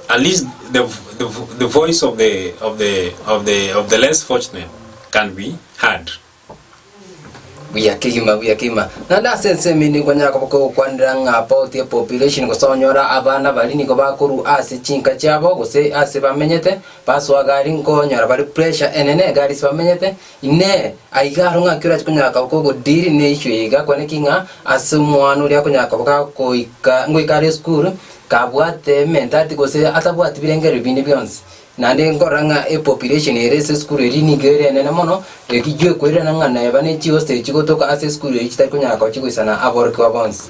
At least the the the voice of the of the of the of the less fortunate can be heard. buya kegima buya kegima naende ase ensemo ende nkonya yakoba kogokwanera ng'a about a population gose onyora abana baria nigo bakorwa ase chinka chiabo gose ase bamenyete basoa gari nkonyora bare pressure enene egari ase bamenyete Inee! Aiga aro ng'aki orache konyara koba kogodiri neiswe iga? Kwane ki ng'a ase omwana oria akonyara koba gakoika ngoika are esukuru, kabwate ementati gose atabwati birengererio binde bionsi? Naende nkorora ng'a epopulation ere ase esukuru eria nigo ere enene mono, ekichwe kwerana ng'a neba ne chihostel chigotoka ase esukuru eria chitari konyara koba chigoisana aborokigwa bonsi.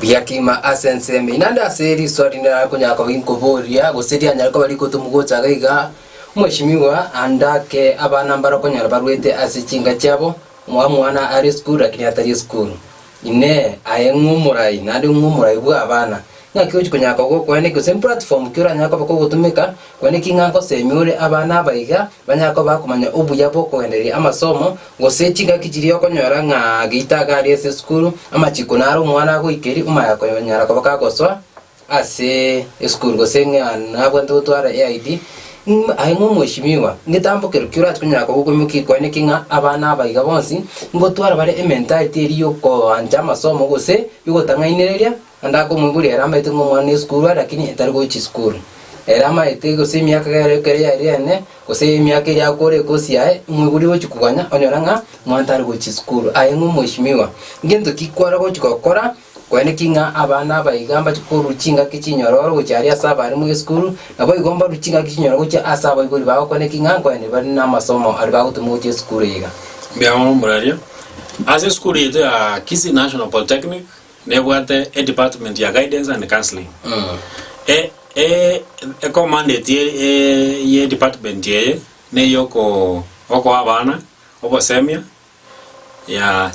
Riakima ase ensemo eye, naende ase erisoa rinde narakonyara koba inkoboria, gose rianyare koba rikotomu gocha iga iga, Omweshimiwa andake abana mbare okonyora barwete ase chinka chiabo, omwabo omwana are esukuru lakini atari esukuru. Inee! Aye ng'o omorai, naende ng'o omorai bw'abana? Naki ochi konyara koba okoene gose mplatform ki oranyare koba kogotumeka, kwane ki ng'a ngosemi ore abana abaiga banyare koba bakomanya obuya bw'okogendereria amasomo, gose chingaki chiria okonyora ng'a geita iga aria ase esukuru, amachiko naro omwana agoikeria omayakonyara koba kagosoa ase esukuru gose ng'a nabwate gotwara eID, mm aye ng'a omweshimiwa, ngetambokero ki orachi konyara koba okoimokia kwane ki ng'a abana abaiga bonsi, ngotwara bare ementality eria yokoancha amasomo gose yogotang'ainereria Onde akomoigwa ere amaete ng'a omwana nesukuru are lakini etari gochia isukuru. Ere amaete gose emiaka egere ekero yaire ene, gose emiaka eria akoora ekosi yaye, imoiboria ogochia koganya onyore ng'a omwana tari gochia isukuru. Aye ng'a omweshimiwa, ngento ki kware gochia gokora gose naki ng'a abana aba iga mbache korua chingaki chinyororo gochia aria ase abaremo esukuru, naboigo mbarue chingaki chinyororo gochia ase abaibori bao gokora ki ng'a nkoende bare namasomo aria bagotoma gochia esukuru iga. Mbuyamono, Muraria. Ase esukuru yaito ya Kisii National Polytechnic, Nebwate e department ya guidance and counseling. E, e, e commandate ye, e, ye department eye neyoko okoa abana obosemia ya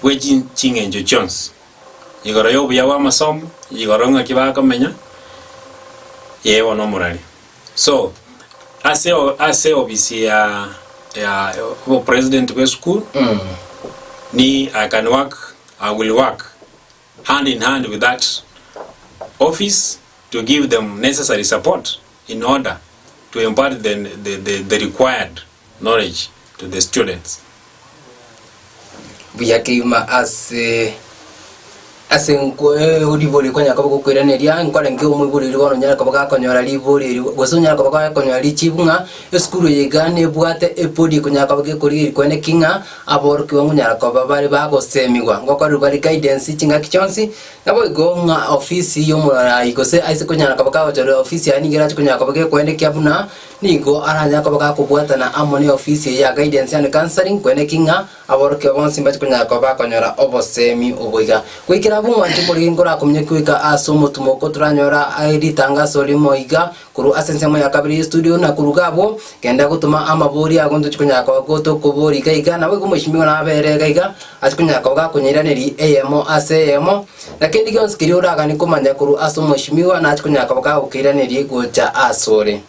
bwe chi- ching'encho chionsi igoro y'obuya bw'amasomo igoro ng'aki bakomenya ee bono omorari so ase o- ase obisi ya ya obopresident bw'esukuru ni I can work I will work hand in hand with that office to give them necessary support in order to impart the, the, the, the required knowledge to the students. buya keima ase ase nko- eh, ribori konya koba gokwiraneria nkore nke omoiboreri bono nyare koba gakonyora riboreri gose onyare koba gakonyora richibu ng'a esukuru eye iga nebwate ebodi ekonyara koba gekorigeri kwene ki ng'a Aborokigwa monyara koba bare bagoseemigwa ngokorerwa rikaidensi chingaki chionsi, naboigo ng'a ofisi y'omorwai gose aise konyara koba kagochorera ofisi yaye nigo erache konyara koba gekoenda ekiya buna nigo aranyare koba gakobwatana amo ne ofisi eye ya guidance and counselling korende ki ng'a aborokigwa bonsi mbache konyara koba bakonyora oboseemi obo iga. Goikera abwo omwancho omoregereria nkorakominyokia goika ase omotumo oko toranyora aa ritangaso rimo iga Korwa ase ensemo ya kabere y'estudio na koruga abwo, genda gotoma amabori ago ntochie konyara koba gotokobori iga iga, naboigo omochimi ogo nabeere iga iga, ase konyara koba gakonyeiraneria eyemo ase eyemo, na kende gionsi keria oraganie komanya korwa ase omochimiwa nachie konyara koba gagokeiraneria gocha asore.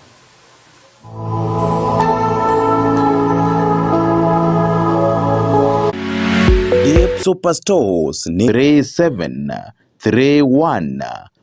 Deep Super Stores ni 3731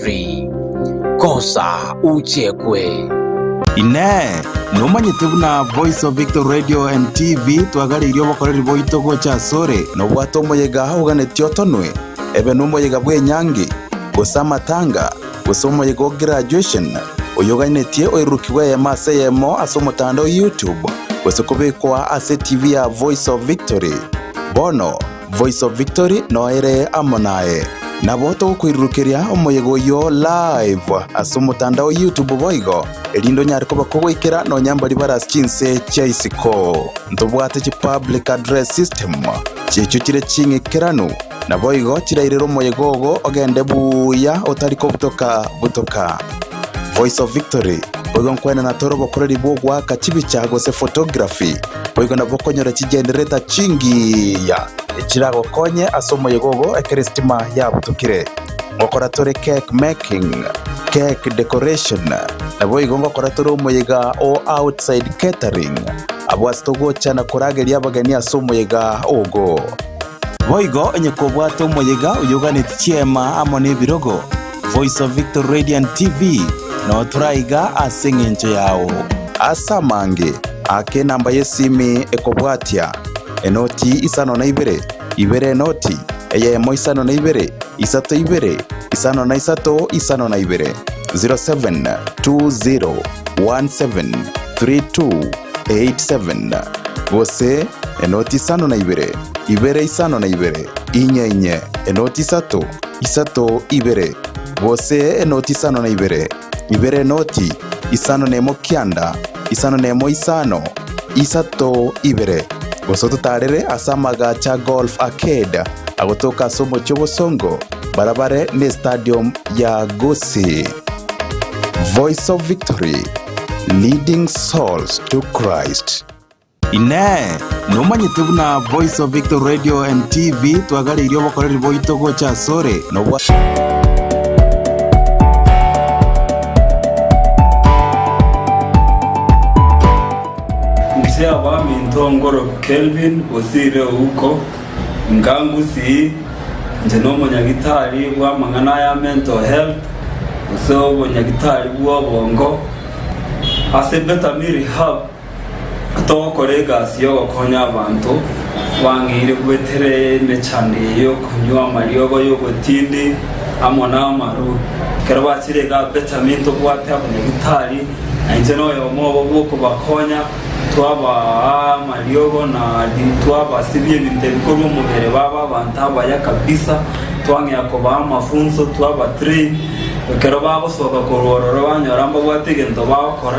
tree kosa uchekwe. Inee! Nomanyete buna Voice of Victory Radio and TV twagareirie obokoreri boito gocha asore? Nobwate omoyega oganeti otonwe, ebe nomoyega bw'enyangi, gose amatanga, gose omoyega o graduation, oyoganetie oirurukigwe eyemo ase eyemo ase omotandao YouTube, gose kobekwa ase TV ya Voice of Victory. Bono, Voice of Victory noere amo naye. Nabo togokoirurukeria omoyega oyio live ase omotandao o YouTube boigo, erinde onyare koba kogoikera nonya mbaria bare ase chinse chia isiko. Ntobwate chi public address system chi'echio chire ching'ikeranu, naboigo chirairere omoyega ogo ogende buya otari kobutoka butoka. Voice of Victory, boigo nkwenena tore obokoreri bw'ogoaka chibicha gose photography. boigo nabo okonyora chigenderereta chingiya echiragokonye ase omoyega ogo ekero esitima yabutokire. Ngokora tore cake making, cake decoration, naboigo ngokora tore omoyega o outside catering abwo ase togocha na korageria abageni ase omoyega ogo. Boigo onye kobwate omoyega oyoganetie chiema amo nebirogo, Voice of Victory Radiant TV, notura iga ase eng'encho yao. Ase amange ake enamba y'esimi ekobwatia, enoti isano na ibere, ibere enoti, eyemo isano na ibere, isato ibere, isano na isato isano na ibere. 0720173287 gose enoti isano na ibere. ibere isano na ibere, inye inye, enoti isato, isato ibere, gose enoti isano na ibere, ibere enoti, isano nemo kianda, isano nemo isano, isato ibere. Gose ototaarere ase amagacho a Golf Arcade agotoka ase omochie obosongo, bara bare n'Estadium ya Gusii. Voice of Victory, Leading Souls to Christ. Inee! Nomanyete buna Voice of Victory Radio and TV twagareirie obokoreri boito gocha asore nobwa Inche abaminto Ngorob Kelvin Bosire Ouko nka Ngusii inche nomonyagitari bw'amang'ana aya mental health gose obonyagitari bw'obongo ase Betamiri Hub Togokora egasi y'ogokonya abanto, bang'eire gwetera emechando eye y'okonywa amariogo y'obotindi amo n'amarwa. Ekero bachire iga Benjamini tobwate abanyagitari, na inche noyomo obo bw'okobakonya, twabaa amariogo na twabasibia ebinto ebi korwa omobere baba abanto abaya kabisa, twang'ea kobaa amafunso, twaba train. Ekero bagosoka korwa ororo banyora mbabwate egento bagokora,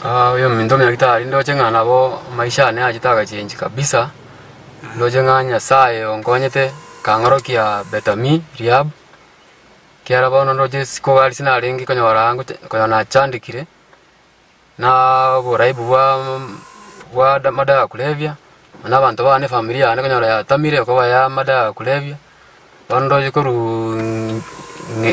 Aah oyo ominto omuya gitari ndoche ng'a nabo maisha yane yachete agachengi kabisa, ndoche ng'a Nyasaye onkonyete akang'orokia Betami rehab, ekiara bono ndoche isiko iga riase narenge konyora ngocha konyora nachandekire, naa oboraibu bwa bwa amadawa ya kulevya, na abanto bane efamiri yane konyora yatamire koba ya amadawa ya kulevya, bono ndoche koruuuu ng'e.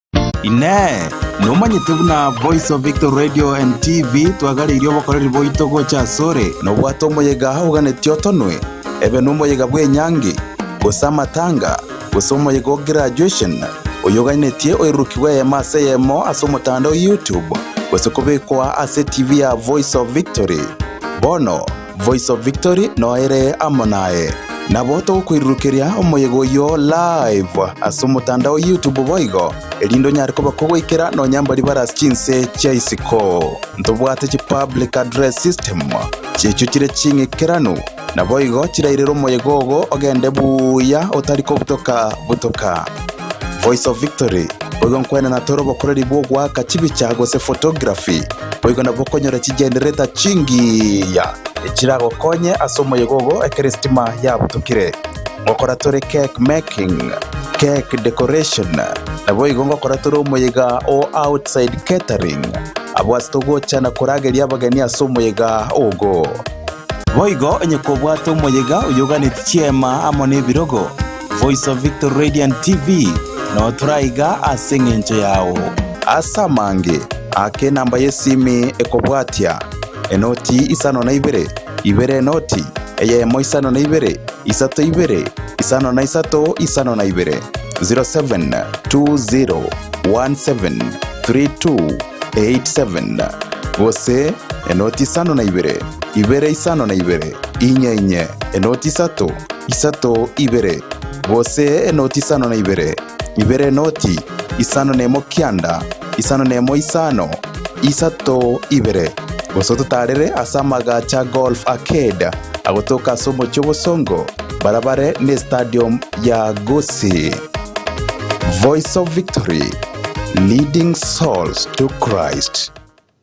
Inee! Nomanyete buna Voice of Victory Radio and TV twagareirie obokoreri boito gocha asore? Nobwate omoyega oganeti otonwe, ebe nomoyega bw'enyangi, gose amatanga, gose omoyega o graduation, oyoganetie oirurokigwe eyemo ase eyemo ase omotandao YouTube, gose kobekwa ase TV ya Voice of Victory. Bono, Voice of Victory noere amo naye. Nabo togokoirurukeria omoyega oyio live ase omotandao o YouTube boigo, erinde onyare koba kogoikera nonya mbaria bare ase chinse chia isiko. Ntobwate chi public address system chi'echio chire ching'ikeranu, naboigo chirairere omoyega ogo ogende buya otari kobutoka butoka. Voice of Victory, boigo nkwenana tore obokoreri bw'ogoaka chibicha gose photography, boigo nabwo okonyora chigenderereta chingiya echiragokonye ase omoyega ogo ekero esitima yabutokire. Ngokora tore cake making, cake decoration, naboigo ngokora tore omoyega o outside catering, abwo ase togocha na korageria abageni ase omoyega ogo. Boigo onye kobwate omoyega oyoganetie chiema amo nebirogo, Voice of Victory Radiant TV, notura iga ase eng'encho yao. Ase amange ake enamba y'esimi ekobwatia, enoti isano na ibere, ibere enoti, eyemo isano na ibere, isato ibere, isano na isato isano na ibere. 0720173287 gose enoti isano na ibere. ibere isano na ibere, inye inye, enoti isato, isato ibere, gose enoti isano na ibere, ibere enoti, isano nemo kianda, isano nemo isano, isato ibere, gose ototarere ase amagacho a Golf Arcade agotoka ase omochie obosongo barabare n'Estadium ya Gusii. Voice of Victory, Leading Souls to Christ.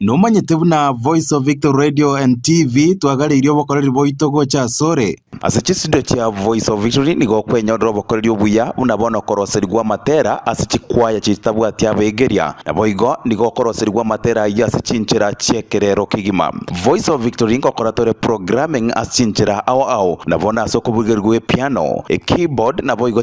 Nomanyete buna Voice of Victory Radio and TV twagareirie obokoreri boito gocha asore. Ase chisido chia Voice of Victory nigo okwenyorera obokoreri obuya buna bono okoroserigwa amatera ase chikwaya chitabwati abegeria. Naboigo nigo okoroserigwa amatera ayio ase chinchera chiekerero kegima. Voice of Victory ngokora tore programming ase chinchera ao ao nabono ase okoburigerigwa epiano, ekeyboard naboigo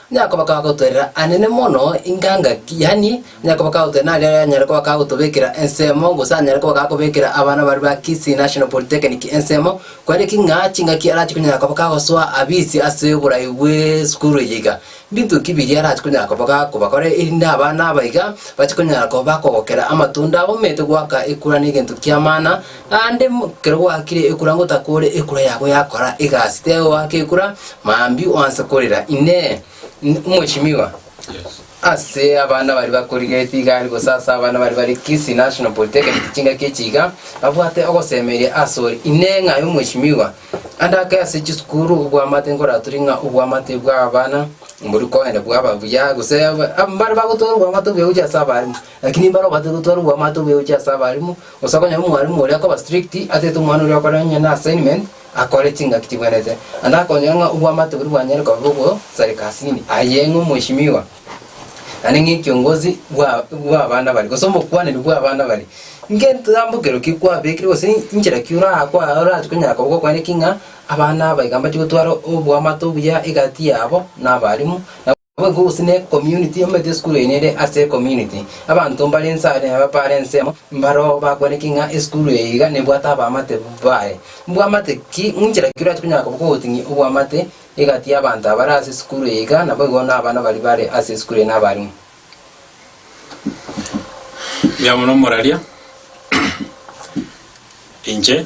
Onye akoba kagotwerera anene mono ingangaki, yaani, onye akoba kagotwerera naria anyare koba kagotobekera ensemo, gose anyare koba gakobekera abana baria ba Kisii National Polytechnic ensemo, kwarire ki ng'a chingaki arache konyara koba kagosoa abisi ase oborai bw'esukuru eye iga? Mbinto ki biria arache konyara koba gakobakora erinde abana aba iga bache konyara koba bakogokera amatunda abo? Omanyete goaka ekura negento ki'amana, Naende ekero gwakire ekura ngotakore ekura yabo yakora egasi, tebe oaka ekura mambia oanse korera, Inee! N- Omweshimiwa, ase abana baria bakorigeretie iga aria gose ase abana baria bare Kisii National Polytechnic chingaki echi iga, babwate ogosemeria asore. Inee! Ng'ai omweshimiwa? Ande ake ase chisukuru obwamate nkoratore ng'a obwamate bw'abana mbori koenda bwaba buya gose aba- mbare bagotwara obwamate obuya gochia ase abarimu. Lakini mbare obwate gotwara obwamate oboyochi ase abalimu, gose onye omwalimu oria akoba strict, atete omwana oria okore onye n'assignment, akore chingaki chibwenete, naende akonyora ng'a obwamate boria bwanyare koba bogosareka asini, aye ng'a omweshimiwa, naende ng'a ekiongozi bwa bw'abana baria, gose omokwaneri bw'abana baria. Ngetambokero ki kwabekire gose inchera ki ora kwa orachie konyara koba gokwaneti ng'a abana aba iga mbachie gotwara obwamate obuya egati yabo na abalimu, na. Ababui bonsi ne community omanyete esukuru eye nere ase ecommunity. Abanto mbare inse are nabapare ensemo, mbaroo bakwaneti ng'a esukuru eye iga nebwate abaamate baye. Mbwamate ki? Inchera ki orachie konyara koboka ogoting'ia obwamate egati y'abanto abare ase esukuru eye iga naboigo nabana baria bare ase esukuru eye nabarimu? Mbuyamono moraria inche.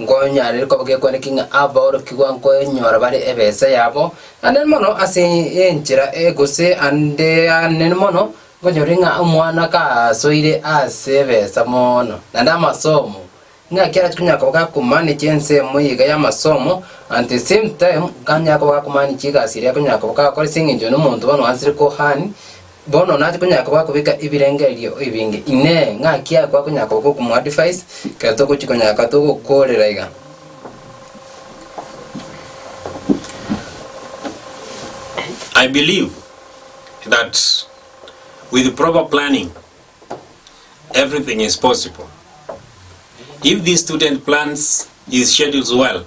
Nkonyare koba gekwenereti ng'a aborokigwa nkoenyora bare ebese yabo anene mono ase enchera eye, gose ande anene mono nkonyore ng'a omwana kasoire ase ebesa mono, naende amasomo, ng'aki arache konyara koba gakomanechia ensemo eye iga y'amasomo, at the same time, ganyare koba gakomanechia egasi eria akonyara koba gakora ase eng'encho nomonto bono oanchire kohani, Bono naki tokonyara koba gokobeka ebirengererio ebinge? Inee! Ng'aki aa kwakonyara koba gokomoadvise kera togochia konyara koba togokoorera iga? I believe that with proper planning, everything is possible. If this student plans his schedules well,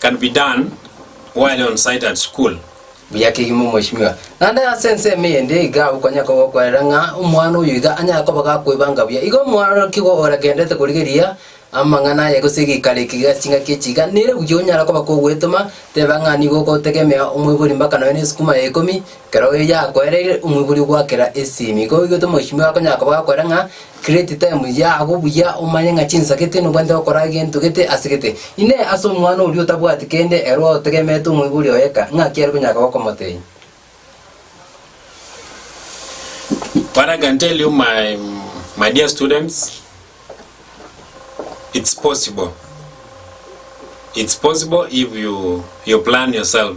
can be done while on site at school. Buya kegima mweshimiwa. Naende ase ensemo eyende iga okonyara koba okwerera ng'a omwana oyo iga anyare koba gakwebanga buya. Igo omworoki igo oragenderete korigereria amang'ana aye gose egikaro eke iga ase chingaki echi iga nere buya onyare koba kogwetoma teba ng'a nigo ogotegemea omoibori mbaka nonya na esukuma ya ikomi ekero yakoereire omoibori ogwakera esimi. Igo oigete mweshimiwa akonyara koba gakwera ng'a. Create time yago buya omanye ng'a chinsa gete nobwanete gokora gento gete ase gete. Inee! Ase omwana oria otabwati kende ere otegemete omoibori oye eka, ng'aki are konyaka gokomotenya? What I can tell you my, my dear students, it's possible. It's possible if you, you plan yourself.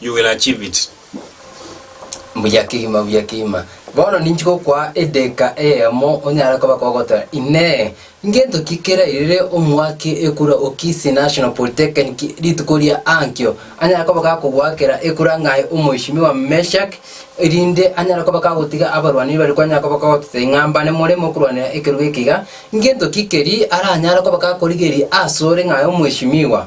You will achieve it. Mbuya kegima, mbuya kegima. Bono ninchi gokwaa edeka eyemo onyare koba kogoteba, Inee, ngento ki kerairire omwake ekura o Kisii National Polytechnic rituko ria ankio? Anyare koba gakogoakera ekura ng'ai Omoishimiwa Meshack, erinde anyare koba gagotiga abarwani baria kwanyare koba kogototebia ng'a mbane moremo korwanera ekerubo eke iga. Ngento ki keria aranyare koba gakorigeria asore ng'ai Omoishimiwa?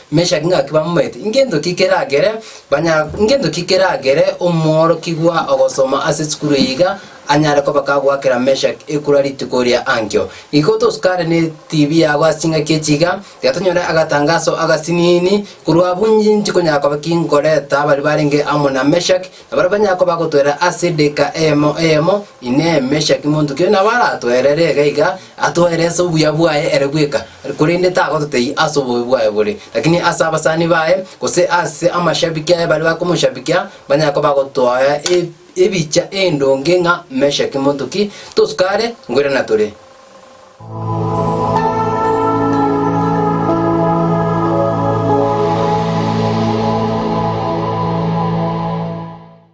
Meshaki ngaki bamoete, ingento ki keragere banya ingento ki keragere omworokigwa ogosoma ase esukuru eye iga anyare koba kagoakera Meshaki ekura rituko ria ankio. Igo tosukare ne TV yabo ase chingaki echi iga, tiga tonyore agatangaso agasiniini korwa abunji nchi konyara koba ki nkoreta baria barenge amo na Meshaki, na baria banyare koba bagotwerera ase edageka eyemo eyemo, Inee, Meshaki monto ki oyo nabo aratoerere iga iga? Atoere ase obuya bwaye ere bweka, korende tagototebia ase obobe bwaye bore, lakini ase abasani baye, gose ase amashabiki aye baria bakomoshabikia, banyare koba bagotoa ebicha endonge ng'a Meshaki monto ki, tosuka are, ngwere na tore.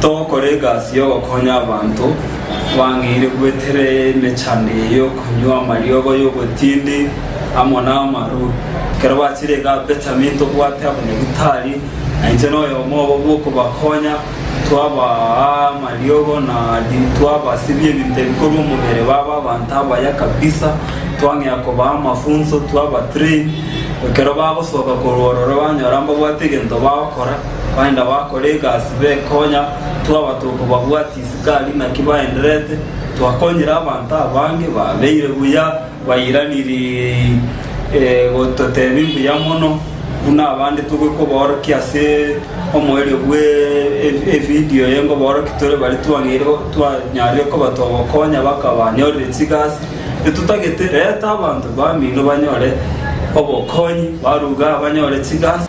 Togokora egasi y'ogokonya abanto bang'eire gwetera emechando eye y'okonywa amariogo y'obotindi amo n'amarwa. Ekero bachire iga Benjamini tobwate abanyagitari, na inche noyomo obo bw'okobakonya, twabaa amariogo na twabasibia ebinto ebikorwa omobere baba abanto abaya kabisa, twang'ea kobaa amafunso, twaba train. Ekero bagosoka korwa ororo banyora mbabwate egento bagokora, Baenda bakora egasi bekonya, twaba tokobabwatia isikaari naki baenderete. Twakonyire abanto abange, babeire buya, bairaniri gototebia mbuya mono, buna abande togwe kobaorokia ase omoerio bwe evidio eye ngobaorokia tore bare twang'eire twanyarire koba togokonya bakabanyorire chigasi. Etotagete, reta abanto bamino banyore obokonyi, baruga banyore chigasi.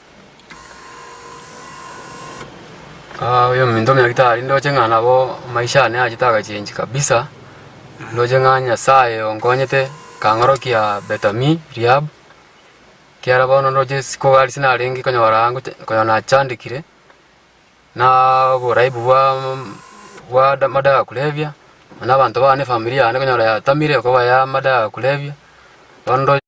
Aa oyo ominto omeya gitari ndoche ng'a nabo maisha ane achete agachengi kabisa, ndoche ng'a Nyasaye onkonyete kang'orokia Betami Rehab, ekiara bono ndoche isiko iga riase narenge konyora aa ngocha konya nachandekire, naaaa oboraibu bwaaam bwa da madawa ya kulevya, na abanto bane efamiri yane konyora yatamire koba ya madawa ya kulevya, bono ndo.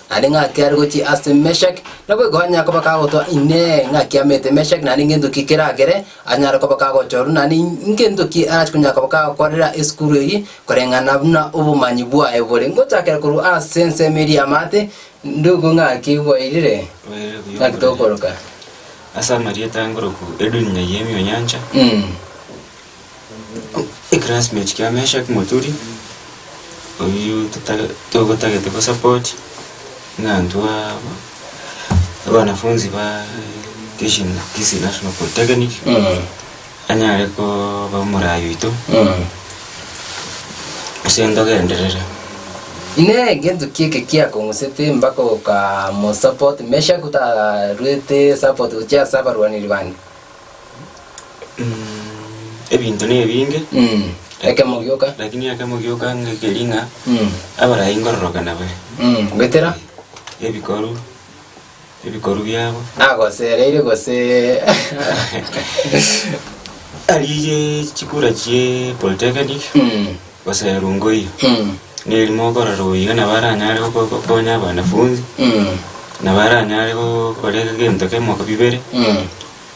Naende ng'aki are gochia ase Meshaki, naboigo onye akoba kagotoa, Inee, ng'aki amete Meshaki, naende ngento ki keragere anyare koba kagochorwa, naende ingento ki arache konya koba kagokorera esukuru eyio, koreng'ana buna obomanyi bwaye bore? Ngochakera korwa ase ensemo eria y'amaate, ndugu ng'aki bwairire, ng'aki tokoroka. Ase amarieta ngoroku edunia y'emiunyancha, Mm. Eclassmate kia Meshak Muturi, oyio totare togotagete gosupport, ng'a intwe aa abanafunzi baa Kisii na Kisii National Polytechnic, anyare koba omoraai oito, ase ntogenderere. Inee gento ki eke kiakong'usete mpaka oka mo support Meshack otarwete support gochia ase abarwaneri bande? ebinto nebinge Mm. Ekemo gioka. lakini ekemo gioka ngekeri ng'a Mm. abarai ngororoka nabe Mm. Goetera. ebikoru ebikoru biabo Nagosereire gose. arigie chikura chie polytechnic Mm. Gose erungoiyo, neri mokorora oiyo nabo aranyare goko- gokonya abanafunzi, nabo aranyare gokora egento kemo bibere,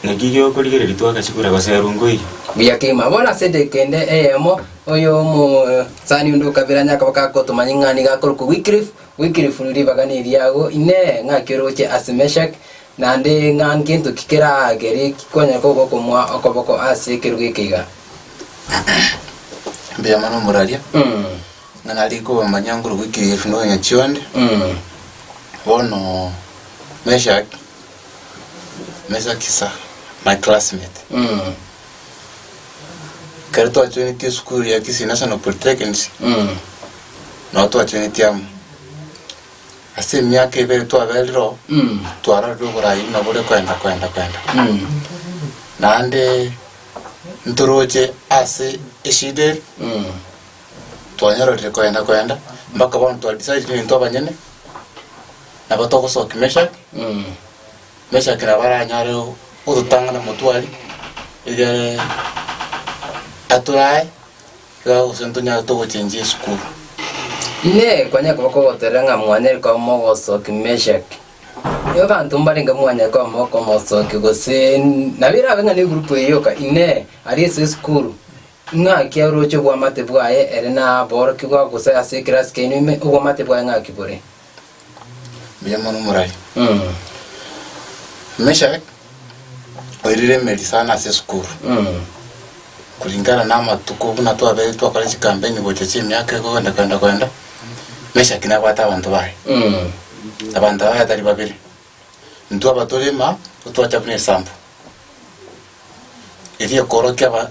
naki giokorigereria twagachikura gose erungoiyo. Buya kegima. Bono ase edeka ende eyemo, oyo omosani onde okabira nyakabaka agotoma ing'ani gakorokwa Wycliffe. Wycliffe ribaga neriago, Inee! Ng'aki oroche ase Meshaki? Naende ng'a ngento ki keraagere kikonyare kogokumwa okoboko ase ekerogo eke iga? Mbuya mono omoraria, ng'a nare komanya nkoruga ekerefu na onye chionde. Mm. Bono Meshak, Meshak is a my classmate. Mm. Ekero twachoinitie esukuru ya Kisii National Polytechnic, Mm. nabo twachoinitie amo. Ase emiaka ebere twaberire oo, Mm. twarorire oboraai buna bore kwenda kwenda kwenda. Mm. Naende ntoroche ase eshida eri, Mm. twanyororire kwenda kwenda, mpaka bono twa decide intwe abanyene, nabo togosoki Meshack, Mm. Meshack nabo aranyare o- ototang'ana motwari egere aturae. Iga gose ntonyarete ogochenchia esukuru. Inee! Kwanyare koba kogotoira ng'a mwanyare koba mogosoki Meshaki? Ee, abanto mbarenge mwanyare koba mokomosoki, gose nabo erabe ng'a negurupu eye yoka. Inee! Aria ase esukuru, ing'aki aroche obwamate bwaye ere na aborokigwa gose ase ekerasi kiaino ime obwamate bwaye ng'aki bore? mbuya mono moraria Mm. Meshak oirire emeri sana ase esukuru Mm. kulingana na amatuko buna twabere twakora chikampeni gocha chiemiaka egoenda kwenda kwenda Meshak nabwate abanto baye Mm. abanto baye tari babere intwe abatorema twacha buna esambu eria ekorokia aba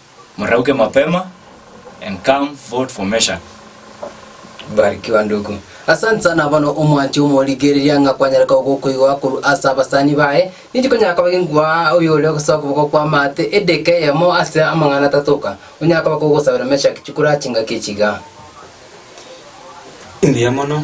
Morauke mapema and come vote for Meshack. Barikiwa ndugu. Asante sana bono omwanche omorigereria ng'a kwanyare koba gokoigwa korwa ase abasani baye. Ninki konyara koba genkwa oyo ore gosoa okoboko kw'amaate edeka eyemo ase amang'ana atato oka? Onyara koba kogosabera Meshack chikura chingaki chiga. Mbuya mono.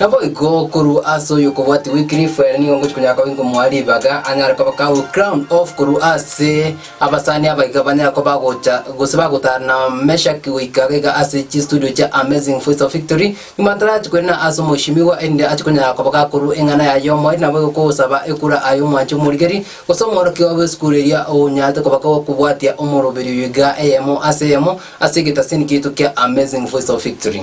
Naboigo korwa ase oyokobwatia Wycliffe, ere nigo ngochia konyara koba inkomoa ribaga, anyare koba kawe crown of korwa ase abasani aba iga banyare koba bagocha gose bagotara na Meshack goika iga iga ase chistudio chia Amazing Voice of Victory. Nyuma tarachi koirana ase omoishimiwa erinde ache konyara koba gakorwa eng'ana yaye y'omoerio naboigo kogosaba ekura aye omwanche omorigeri gose omworokia obo esukuru eria onyarete koba gokobwatia omoroberi oyo iga eyemo ase eyemo ase egetasini kiaito kia Amazing Voice of Victory.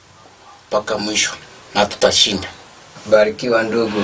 mpaka mwisho, na tutashinda. Barikiwa ndugu.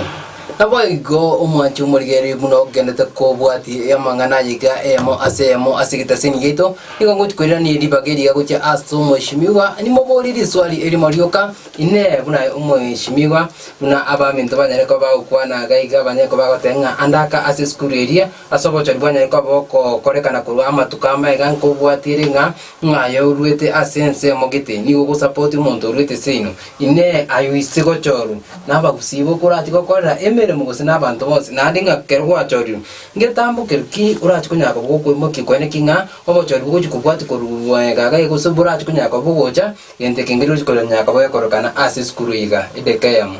Naboigo omwanche omorigereria buna ogenete kobwati amang'ana aya iga eyemo ase eyemo ase egeteseni giaito, nigo ngochi koirania eribaga eriga gochia ase omoesimigwa, nimoborie riswali erimo rioka, Inee, buna aye omoesimigwa, buna abaminto banyare koba bagokwana iga iga banyare koba bagoteba ng'a andaka ase esukuru eria, Ase obochori bwanyaye koba okokorekana korwa amatuko amaiga nkobwatire ng'a ng'aye oruete ase ensemo gete nigo ogosapoti omonto oruete seino. Inee! Aye oise gochorwa nabagusii ibo korachi gokorera emeremo gose nabanto bonsi? Naende ng'a kero gwachorirwe ngetambokerwe ki orachi konyara koba gokoimokia kwene ki ng'a obochori bogochi kobwati korwa egagaga gose borachi konyara koba bogocha gento ekenkeri ochi konyara koba gekorekana ase esukuru iga? Edeka eyemo.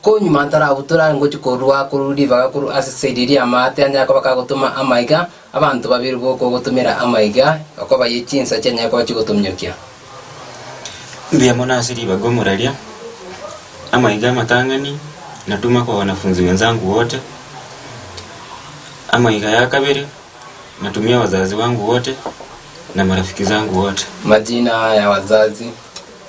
Konywa mato arabutora are ngochia korua akorwa ribaga korwa ase esaidi eria y'amaate a Yakoba kagotoma amaiga, abanto babere b'okogotomera amaiga okobayie chinsa chia Yakoba chigotominyokia. Mbuya mono ase ribaga omoraria, amaiga amatang'ani, natuma kwa wanafunzi wenzangu wote. Amaiga ya kabere, natumia wazazi wangu wote na marafiki zangu wote. Majina ya wazazi.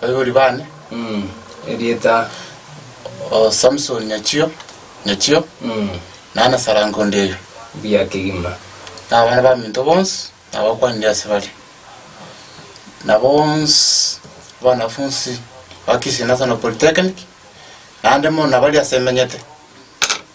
Baibori bane. Mm. Erieta. O Samson Nyachio. Nyachio. Mm. Nana sarango ndeyo. Bia kigima. Na abana ba minto bonsi nabakwanire ase bare. Na bonsi abanafunsi ba Kisii National Polytechnic naende mono nabari ase emenyete.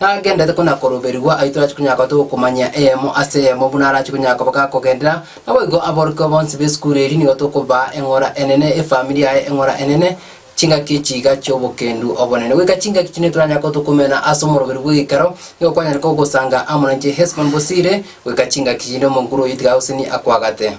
Nagenderete ko nakoroberigwa ayio torache konyara koba togokomanyia eyemo ase eyemo buna arache konyara koba gakogenderera, naboigo aborokigwa bonsi b'esukuru eria nigo tokobaa eng'ora enene, efamiri yaye eng'ora enene, chingaki echiiga chi'obokendu obonene. Goika chingaki chiria nitoranyare koba tokomena ase omoroberi bw'egeikaro, nigo kwanyare kogosanga amo nainche Hesbon bosire, goika chingaki chinde omonguru oyio tiga agoseni akwagate.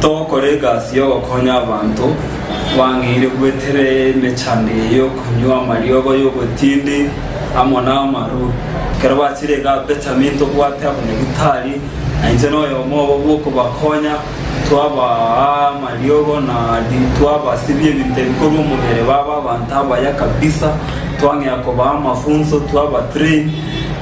Togokora egasi y'ogokonya abanto, twang'eire gwetera emechando eye y'okonywa amariogo y'obotindi amo namaru. Ekero bachire iga Benjamini tobwate abanyagitari, na inche noyomo obo bw'okobakonya, twabaa amariogo na twabasibia ebinto ebikorwa omobere babe abanto abaya kabisa. Twang'ea kobaa amafunso, twaba train.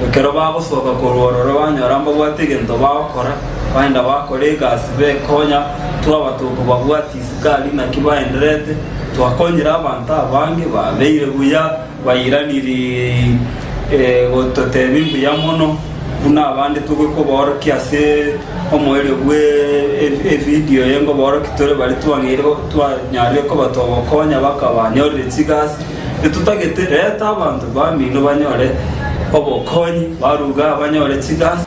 Ekero bagosoka korwa ororo banyora mbabwate egento bagokora, Baenda bakora egasi bekonya, twaba tokobabwatia isikaari naki baenderete. Twakonyire abanto abange, babeire buya, bairaniri gototebia mbuya mono, buna abande togwe kobaorokia ase omoerio bw'evidio eye ngobaorokia tore bare twang'eire twanyarire koba togokonya bakabanyorire chigasi. Totagete, reta abanto bamino banyore obokonyi, baruga banyore chigasi.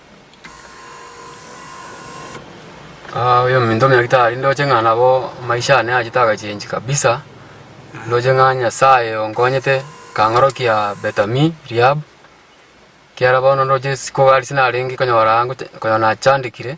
Ah oyo ominto omiagete aria ndoche ng'a nabo maisha ane achete agachengi kabisa, ndoche ng'a Nyasaye onkonyete kang'orokia Betami rehab, ekiara bono ndoche isiko ase narenge konyora gocha konyora nachandekire.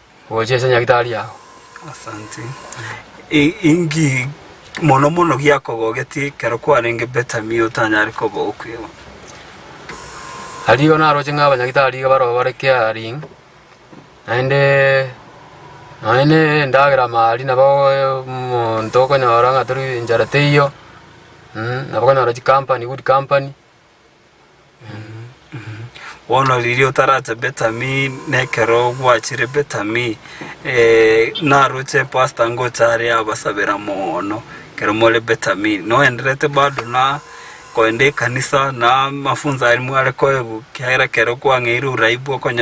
Gocha ase nyagitari yao. Asante. I- Inki mono mono giakobogetie ekero kwarenge Betami otanyare kobogo kwegwa? Ario naroche ng'a abanyagitari iga baroo bare caring naende nonya ne endagera mari nabo omonto okonyora ng'a tori enchara teiyo mm, nabo okonyora chikampani good company Bono riria otarache Betami, na ekero gwachire Betami, eh, naroche pastor ngocha are abasabera moono, ekero more Betami. Noenderete bado na koenda ekanisa, na amafunzo aria mware koegwa, ekiagera ekero kwang'eire uraibu okonyora.